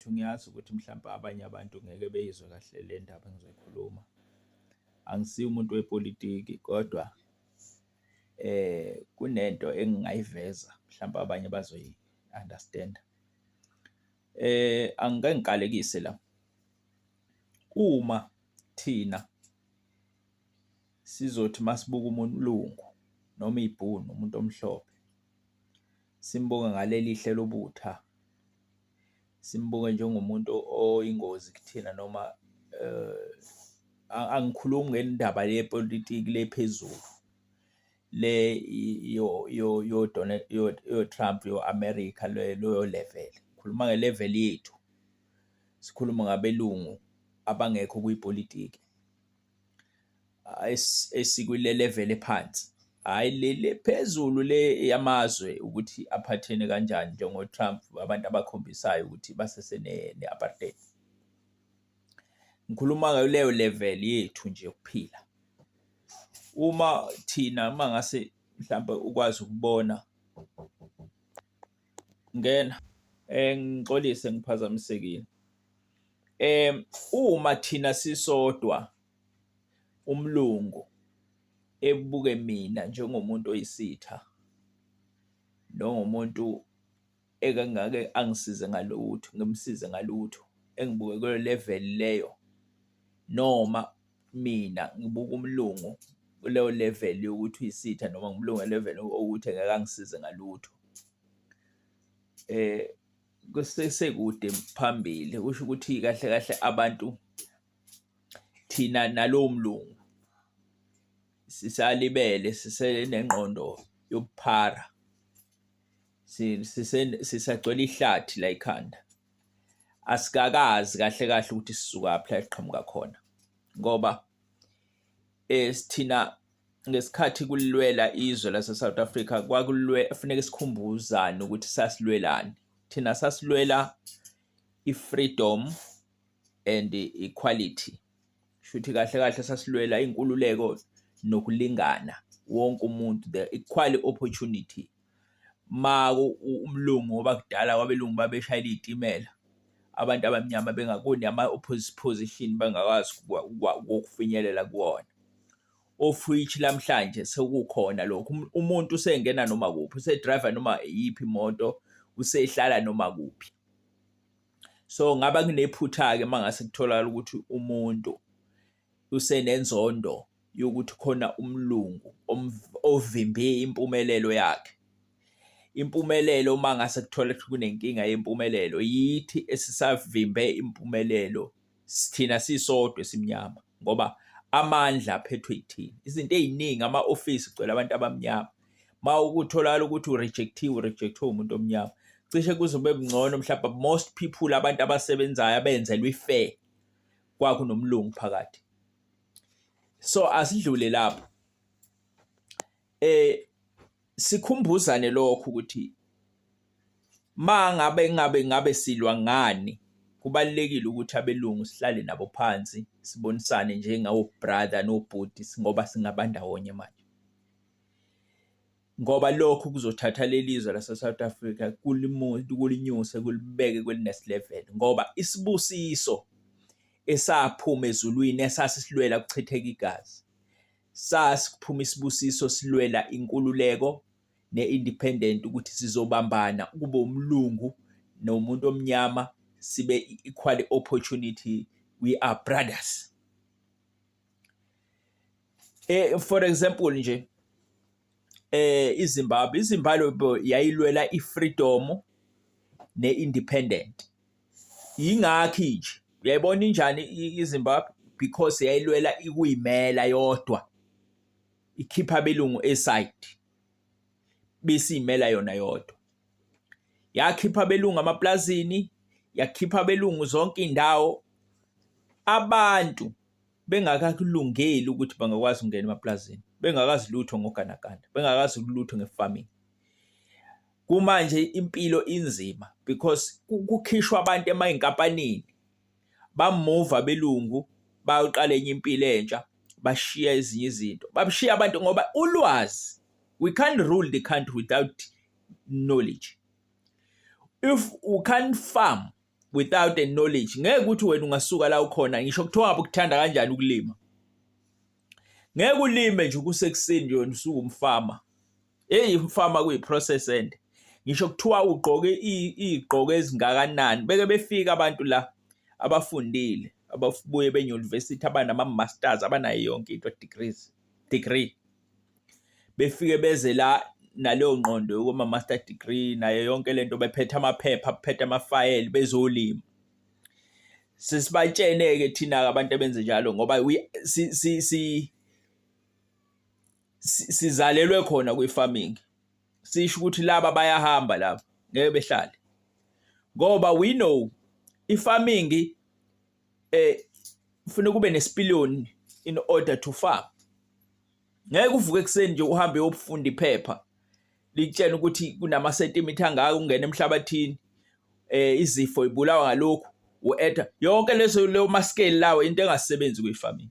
Futhi ngiyazi ukuthi mhlawumbe abanye abantu ngeke beyizwe kahle le ndaba engizoyikhuluma. Angisiye umuntu wepolitiki kodwa kunento engingayiveza mhlawumbe abanye bazoyi-understand-a. Angike ngiqalekise la. Uma thina sizothi uma sibuka umlungu noma ibhunu umuntu omhlophe, simbuke ngaleli hle lobutha. simbuke njengomuntu oyingozi kuthina noma angikhulumi ngendaba yepolitiki le phezulu le yo-Trump yo-America leyo level, ngikhuluma nge-level yethu, sikhulume ngabelungu abangekho kwipolitiki. esikwile level ephansi hhayi leli phezulu le yamazwe ukuthi aphathene kanjani njengo-Trump abantu abakhombisayo ukuthi basese ne-apartheid. Ngikhuluma ngayo leyo level yethu nje yokuphila. Uma thina uma ngase mhlawumbe ukwazi ukubona Ngena. Eh ngixolise ngiphazamisekile. Eh uma thina sisodwa umlungu ebuke mina njengomuntu oyisitha nongumuntu ekangake angisize ngalutho, ngimsize ngalutho engibuke kuyo level leyo noma Mina ngibuka umlungu kuleyo level yokuthi uyisitha noma ngumlungu we-level okuthi engeke angisize ngalutho. Kusesekude phambili kusho ukuthi kahle kahle abantu thina nalowo mlungu sisalibele sisenengqondo yobuphara sisagcwele ihlathi layikhanda. asikakazi kahle kahle ukuthi sisukaphi la eqhamuka khona ngoba eh sithina ngesikhathi kulwela izwe lase South Africa kwakulwe kufanele sikhumbuzane ukuthi sasilwelani thina sasilwela i-freedom and equality shuthi kahle kahle sasilwela inkululeko nokulingana wonke umuntu the equal opportunity uma umlungu ngoba kudala kwabelungu babeshayela iy'timela abantu abamnyama bengakuni ama-position bengakwazi ukufinyelela kuwona. Ofwich lamhlanje sekukhona lokhu um, umuntu usengena noma kuphi, usedrayiva noma iyiphi imoto, usehlala noma kuphi. So ngaba kunephutha-ke uma ngase kutholakala ukuthi umuntu usenenzondo yokuthi khona umlungu ovimbe impumelelo yakhe. Impumelelo uma ngase kuthola ukuthi kunenkinga yempumelelo yithi esisavimbe impumelelo sithina sisodwa esimnyama ngoba amandla aphethwe yithina. Izinto ey'ningi ama-ofisi kugcwele abantu abamnyama. Uma ukutholakala ukuthi urejecthiwe urejecthiwe umuntu omnyama. Cishe kuze kube kungcono mhlawumbe most people abantu abasebenzayo abenzelwe i-fair kwakunomlungu phakathi so asidlule lapho eh sikhumbuzane lokho ukuthi ma ngabe ngabe ngabe silwa ngani kubalekile ukuthi abelungu sihlale nabo phansi sibonisane njengawo brother nobhuti ngoba singabandawonye manje ngoba lokhu kuzothatha leli zwe laseSouth Africa kulinyuse kulibeke kwelinest level ngoba isibusiso esaphuma ezulwini esasisilwela kuchitheka igazi sasikuphuma isibusiso silwela inkululeko ne-independent ukuthi sizobambana kube umlungu nomuntu omnyama sibe equal opportunity we are brothers eh for example nje eh iZimbabwe iZimbabwe yayilwela ifreedom neindependent ingakhi nje uyayibona injani iZimbabwe because yayilwela ikuyimela yodwa ikhipha belungu eside bese imela yona yodwa yakhipha belungu amaplazini yakhipha belungu zonke indawo abantu bengakakulungeli ukuthi bangakwazi ukungena emapulazini bengakazi lutho ngoganaganda bengakazi lutho nge-farming kumanje impilo inzima because kukhishwa abantu emayinkampanini bamuva belungu bayoqala enye impilo entsha bashiya ezinye izinto babushiya abantu ngoba ulwazi we can't rule the country without knowledge if u can't farm without a knowledge ngeke ukuthi wena ungasuka la ukhona ngisho kuthiwa ngabe ukuthanda kanjani ukulima ngeke ulime nje kusekuseni nje wena usuke umfama hey umfama kuyi process end ngisho kuthiwa ugqoke igqoko ezingakanani beke befika abantu la abafundile ababuye benye university abanama masters abanayo yonke into degrees degree befike beze la naleyo ngqondo yokuba master degree nayo yonke lento bephethe amaphepha bephethe amafayeli bezolima sesibatshene ke thina abantu abenze njalo ngoba si si si sizalelwe khona kwi farming sisho ukuthi laba bayahamba laba ngeke behlale ngoba we know i farming eh ufuna kube nesipiliyoni in order to farm ngeke uvuke ekuseni nje uhambe uyofunda iphepha likutshena ukuthi kunama sentimitha angaka ungena emhlabathini eh izifo ibulawa ngalokhu uetha yonke leso leyo maskeli lawo into engasebenzi kwifarming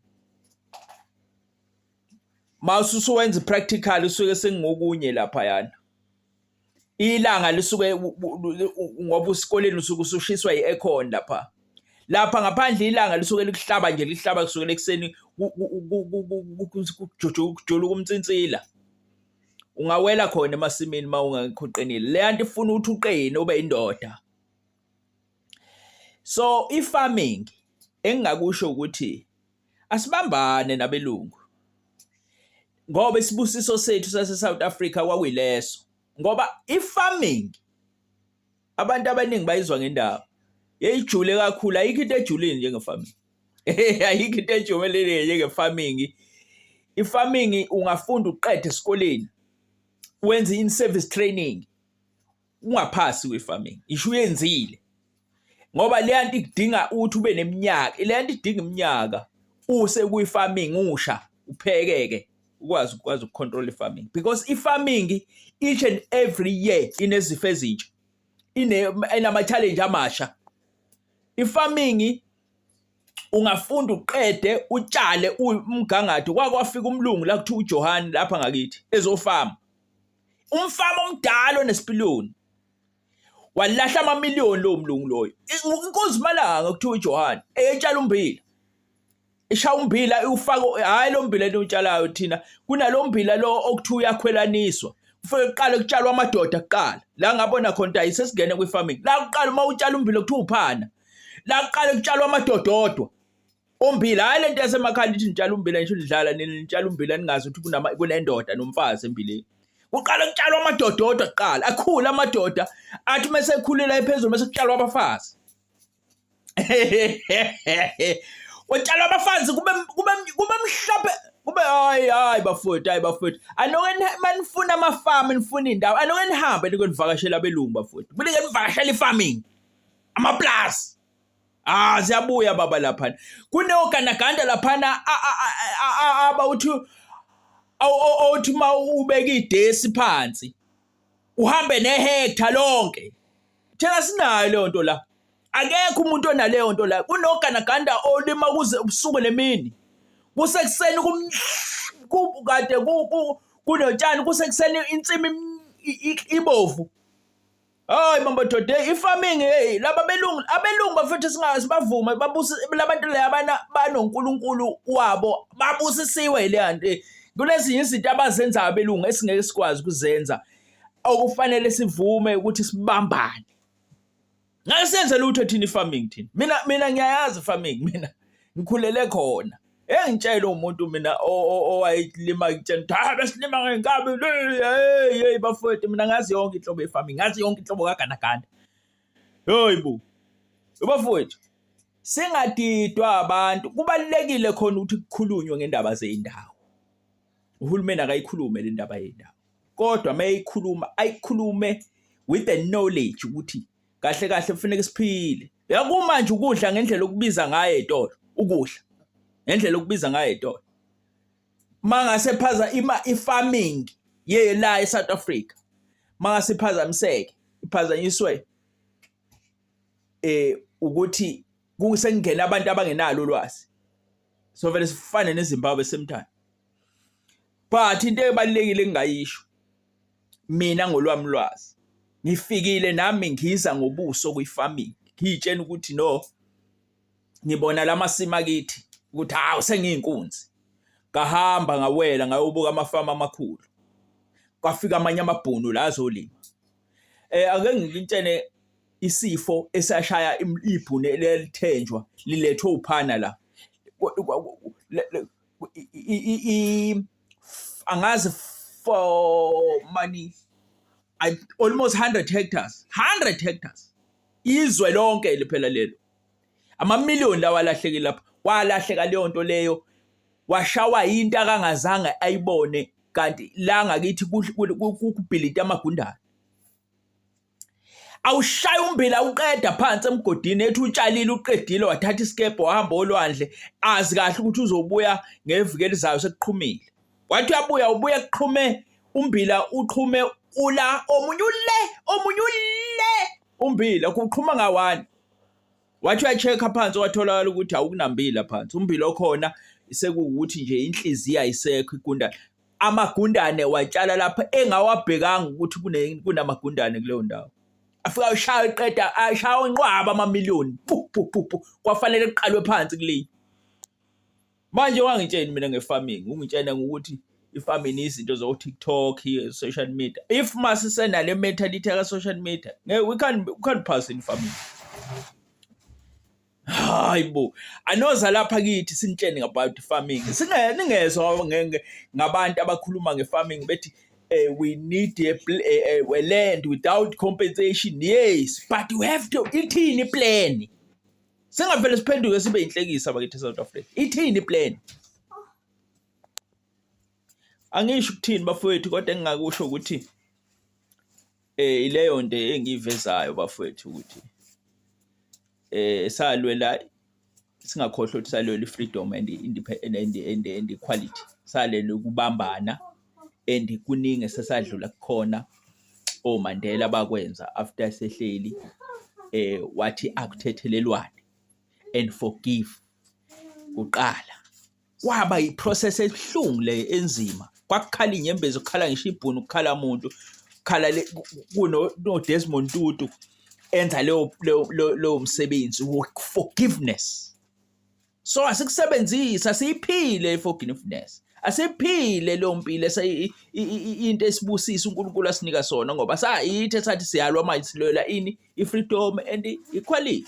mawususuwenza practical usuke sengokunye lapha yana ilanga lisuke ngoba usikoleni usuke usushiswa i-aircon lapha lapha ngaphandle ilanga lisuke likuhlaba nje lihlaba kusukela ekuseni kujula ukumtsinsila ungawela khona emasimini uma ungaqinile le yanto ifuna ukuthi uqine ube indoda So i-farming engingakusho ukuthi asibambane nabelungu ngoba isibusiso sethu sase-South Africa kwakuyileso ngoba i-farming abantu abaningi bayizwa ngendaba yeyijule kakhulu ayikho into ejulile njenge-farming ayikho into ejumelile njenge-farming i-farming ungafunda uqede esikoleni wenze in-service training ungaphasi kwe-farming isho uyenzile ngoba leya nto ikudinga ukuthi ube neminyaka leya nto idinga iminyaka use kwi-farming usha uphekeke ukwazi ukwazi ukucontrol i-farming because i-farming each and every year inezifo ezintsha inama-challenge amasha i-farming ungafunda uqede utshale umgangatho kwakwafika umlungu la kuthiwa uJohani lapha ngakithi ezofama umfama omdala onesipiliyoni walahla amamiliyoni lowo mlungu loyo inkosi malanga kuthiwa uJohane eyetshala umbila ishaya umbila iwufako hayi lo mbila eniwutshalayo thina kunalo mbila lo okuthiwa uyakhwelaniswa kufanele kuqale kutshalwa amadoda kuqala la ngabona khona ukuthi ayisesingene kwi-farming la kuqala uma utshala umbila kuthiwa uphana la kuqale kutshalwa amadoda odwa Ummbila hayi lento yasemakhaya nithi nitshala ummbila ngisho nidlala nitshala ummbila ningazi ukuthi kunama kunendoda nomfazi embileni. Kuqala kutshalwa amadoda odwa kuqala akhule amadoda athi uma sekhulela ephezulu bese kutshalwa abafazi. Kutshalwa abafazi kube kube kube mhlophe kube hayi hayi bafowethu hayi bafowethu anoke manifuna amafamu nifuna indawo anoke nihambe nikonivakashela abelungu bafowethu. Kulike nivakashela ifarming. Amaplazi. Ah siyabuya baba laphana. Kunogandaganda laphana abawuthi awuthi uma ubeka idesi phansi uhambe nehectare lonke. Thina sinayo leyo nto la. Akekho umuntu onaleyo nto la. Kunogandaganda olima kuze ubusuku nemini. Kusekuseni kum kade kunotshani kusekuseni insimi ibovu. Hayi mambo doda hey i-farming hey laba belungu abelungu bafethu singazi bavume babuse labantu le abana banoNkulunkulu wabo babusisiwe le hanti eh, kunezinye izinto abazenza abelungu esingeke sikwazi kuzenza okufanele sivume ukuthi sibambane ngeke senze lutho thina i-farming thina mina mina ngiyayazi farming mina ngikhulele khona Engitshele umuntu mina owayelima ngitshela ukuthi hhayi besilima ngenkabi yeyi yeyi bafowethu mina ngazi yonke inhlobo ye-farming ngazi yonke inhlobo kagandaganda yoyi bo bafowethu singadidwa abantu kubalulekile khona ukuthi kukhulunywe ngendaba zey'ndawo uhulumeni akayikhulume le ndaba yendawo kodwa uma eyikhuluma ayikhulume with the knowledge ukuthi kahle kahle kufanele siphile yakumanje ukudla ngendlela okubiza ngayo etolo ukudla ngendlela okubiza ngayo etolo mangase phaza ima i-farming ye la e-South Africa mangase phazamiseke iphazanyiswe eh ukuthi kusengena abantu abangenalo ulwazi so vele sifane neZimbabwe semthana but into ebalekile engayisho mina ngolwami ulwazi ngifikile nami ngiza ngobuso kwi-farming ngiyitshena ukuthi no ngibona la masimi akithi ukuthi hawu sengiyinkunzi ngahamba ngawela ngayobuka amafama amakhulu kwafika amanye amabhunu la azolima eh ake ngilintshene isifo esashaya ibhunu elithenjwa lilethwe uphana la angazi for money I, almost 100 hectares 100 hectares izwe lonke liphela lelo amamiliyoni lawa alahlekile lapha walahleka leyo nto leyo washawa into akangazange ayibone kanti la ngakithi kubhilita amagundane awushaya umbila uqeda phansi emgodini ethi utshalile uqedile wathatha isikebhe wahamba olwandle azi kahle ukuthi uzobuya ngeviki elizayo sekuqhumile wathi uyabuya ubuye kuqhume umbila uqhume ula omunye ule omunye ule umbila kuqhuma ngawani wathi uyacheck phansi watholakala ukuthi awukunambila phansi umbila okhona sekuwukuthi nje inhliziyo ayisekho igundane amagundane watshala lapho engawabhekanga ukuthi kunamagundane kuleyo ndawo afika ashaya iqeda ashaya onqwaba amamiliyoni kwafanele kuqalwe phansi kuleyi manje wangitsheni mina nge-farming ungitshena ngokuthi i-farming izinto zo-tiktok social media if masisenale mentality yaka-social media we can't, we can't pass in farming hayi bo anoza lapha kithi sinitshene about farming siningezwa ngabantu abakhuluma nge-farming bethi uh, we need a, a, a, a land without compensation yes but you have to ithini iplan singavele siphenduke sibe inhlekisa bakithi south africa ithini iplan angisho ukuthini bafowethu kodwa engingakusho ukuthi Eh ileyo nto engiyivezayo bafowethu ukuthi eh salwela singakhohlwa ukuthi salwela i-freedom and i-independent and, and, and equality salele ukubambana and kuningi esesadlula kukhona oMandela bakwenza after sehleli eh wathi akuthethelelwane and forgive kuqala kwaba yiprocess ebuhlungu le enzima kwakukhala inyembezi kukhala ngisho ibhunu kukhala muntu kukhala kuno-desmond tutu enza leyo msebenzi forgiveness so asikusebenzisa siyiphile i-forgiveness asiphile leyo mpilo into esibusisa uNkulunkulu asinika sona ngoba sayithi esathi siyalwa manje silwela ini i-freedom and equality